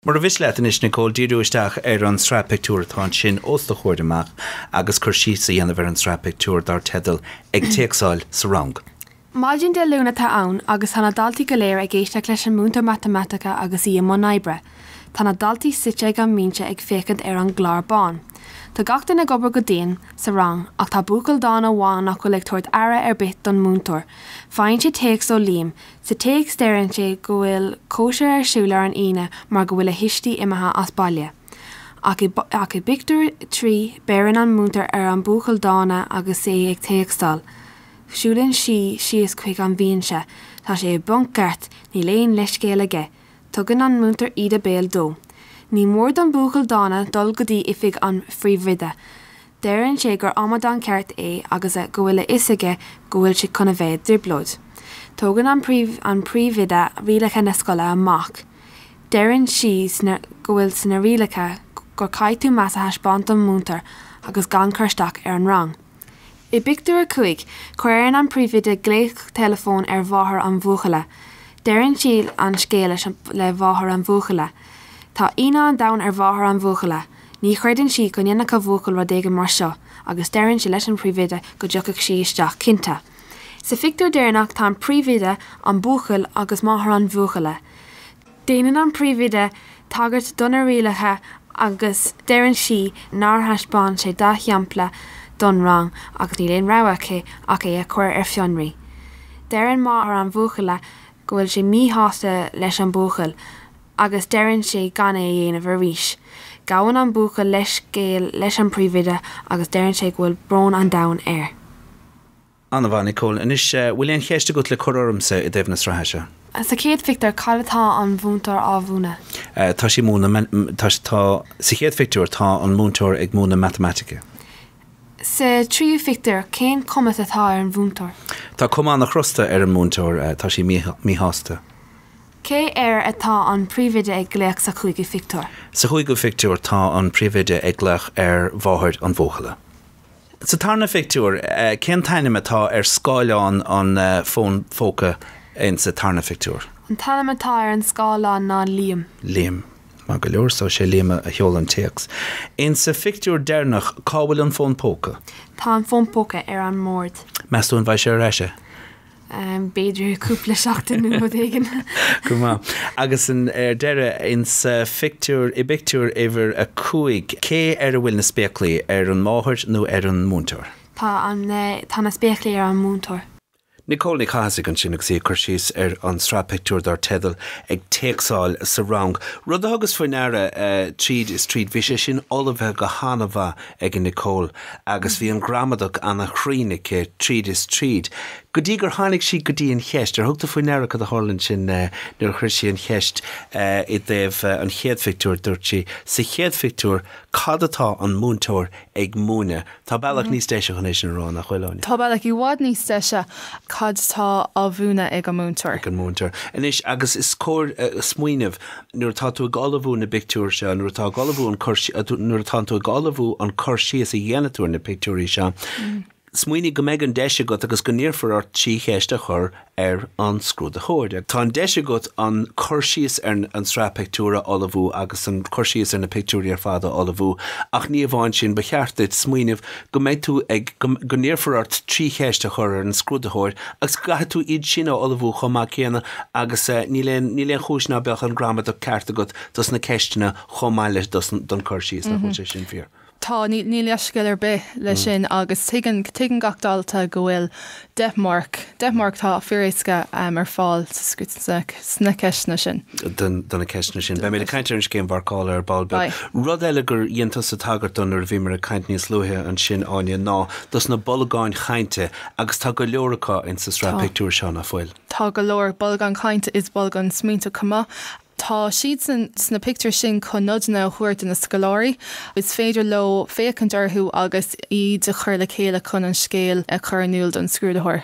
Mura mhiste leat anois, Nicole, díriú isteach ar an tsraith pictiúr atá ansin os do chomhair amach agus cur síos a dhéanamh ar an tsraith pictiúr dar teideal 'Ag Téacsáil sa Rang'. Maidin Dé Luain atá ann agus tá na daltaí go léir ag éisteacht leis an múinteoir Matamaitice agus í i mbun oibre. Tá na daltaí suite ag an mbinse ag féachaint ar an gclár bán. Tá gach duine ag obair go dian sa rang ach tá buachaill dána amháin nach bhfuil ag tabhairt aire ar bith don múinteoir. Faigheann sé téacs ó Liam. Sa téacs deireann sé go bhfuil cóisir ar siúl ar an Aoine mar go bhfuil a thuistí imithe as baile. Ach i bpictiúr a trí, beireann an múinteoir ar an buachaill dána agus é ag téacsáil. Siúlann sí síos chuig an bhinse. Tá sé i bponc ceart, níl aon leithscéal aige. Tugann an múinteoir íde béil dó. Ní mór don buachaill dána dul go dtí oifig an phríomhoide. Deireann sé gur amadán ceart é agus go bhfuil a fhios aige go bhfuil sé chun a bheith i dtrioblóid. Tugann an príomhoide rialacha na scoile amach. Deireann sí go bhfuil sna rialacha go gcaithfidh tú meas a thaispeáint don mhúinteoir agus gan cur isteach ar an rang. I bpictiúr a cúig, cuireann an príomhoide glaoch teileafóin ar mháthair an bhuachalla. Deireann sí an scéal le mháthair an bhuachalla. Tá ionadh an domhain ar mháthair an bhuachalla. Ní chreideann sí go ndéanfadh a buachaill rud éigin mar seo agus deireann sí leis an bpríomhoide go dtiocfadh sí isteach, cinnte. Sa phictiúr deireanach tá an príomhoide, an buachaill agus máthair an bhuachalla. Déanann an príomhoide tagairt do na rialacha agus deireann sí nár thaispeán sé dea-shampla don rang agus níl aon rogha aici ach é a chur ar fionraí. Deireann máthair an bhuachalla go bhfuil sé míshásta leis an buachaill agus deireann sé gan é a dhéanamh arís. Gabhann an buachaill leithscéal leis an bpríomhoide agus deireann sé go bhfuil brón an domhain air. An-mhaith, Nicole. Anois, bhfuil aon cheist agat le cur ormsa i dtaobh na sraithe seo? Sa chéad phictiúr, cad atá an mhúinteoir á mhúineadh? Tá sí ag múineadh, tá, sa chéad phictiúr, tá an múinteoir ag múineadh matamaitice. Sa tríú phictiúr, cén chuma atá ar an mhúinteoir? Tá cuma an-chrosta ar an mhúinteoir, tá sí míshásta. Cé air atá an príomhoide ag glaoch sa chúigiú phictiúr? Sa chúigiú phictiúr tá an príomhoide ag glaoch ar mháthair an bhuachalla. Sa tarna phictiúr, cén t-ainm atá ar scáileán an fón póca insa tarna phictiúr? An t-ainm atá ar an scáileán ná Liam. Liam. Maith go leor, so sé Liam a sheol an téacs. Insa phictiúr deireanach, cá bhfuil an fón póca? Tá an fón póca ar an mbord. Meas tú an bhfaighidh sé ar ais é? b'fhéidir cúpla seachtain nó rud éigin. Go maith. Agus ar deireadh insa phictiúr i bpictiúr uimhir a cúig, cé ar a bhfuil na spéaclaí, ar an máthair nó ar an múinteoir? Tá, tá na spéaclaí ar an múinteoir. Nicole Ní Chathasaigh ansin agus í ag cur síos ar an sraith pictiúr dar teideal 'Ag Téacsáil sa Rang'. Rud a thugas faoi ndeara tríd is tríd, bhí sé sin ullmhaithe go han-mhaith. ag Nicole agus bhí an gramadach ana-chruinn aici tríd is tríd. Go dtí gur tháinig sí go dtí an cheist. Ar thug tú faoi ndeara cad a tharla ansin nuair a chuir sí an cheist i dtaobh an chéad phictiúir? Dúirt sí, Sa chéad phictiúir, cad atá an múinteoir ag múineadh? Tá bealach níos deise chun é sin a rá, nach bhfuil, Áine? Tá bealach i bhfad níos deise, cad atá á mhúineadh ag an múinteoir? Ag an múinteoir. Anois, agus is cóir smaoineamh nuair atá tú ag ullmhú na bpictiúr seo, nuair atá tú ag ullmhú, nuair atá tú ag ullmhú an cur síos a dhéanann tú ar na pictiúirí seo, smaoinigh go mbeidh an deis agat agus go n-iarrfar ort trí cheist a chur ar an scrúdaitheoir. Tá an deis agat an cur síos ar an sraith pictiúr a ullmhú agus an cur síos ar na pictiúirí ar fad a ullmhú ach ní amháin sin, ba cheart duit smaoineamh go mbeidh tú ag, go n-iarrfar ort trí cheist a chur ar an scrúdaitheoir agus go gcaithfidh tú iad sin a ullmhú chomh maith céanna agus níl aon, níl aon chúis ná beadh an gramadach ceart agat dos na ceisteanna chomh maith leis, dos, don cur síos, nach bhfuil sé sin fíor? Tá, níl, níl leithscéal ar bith leis sin agus tuigeann, tuigeann gach dalta go bhfuil deich marc. Deich marc. Tá fíoréasca ar fáil sna ceisteanna sin. do na ceisteanna sin. Beidh mé ag caint ar an scéim mharcála ar ball beag. Beidh. Rud eile gur dhein tusa tagairt dó nuair a bhíomar ag caint níos luaithe ansin, Áine, ná dos na bolgáin chainte, agus tá go leor acu ins an sraith pictiúr seo, nach bhfuil? Tá go leor. Bolgáin chainte is bolgáin smaointe chomh maith. Tá siad sna pictiúir sin chun nodanna a thabhairt do na scoláirí. Is féidir leo féachaint orthu agus iad a chur le chéile chun an scéal a chur in iúl don scrúdaitheoir.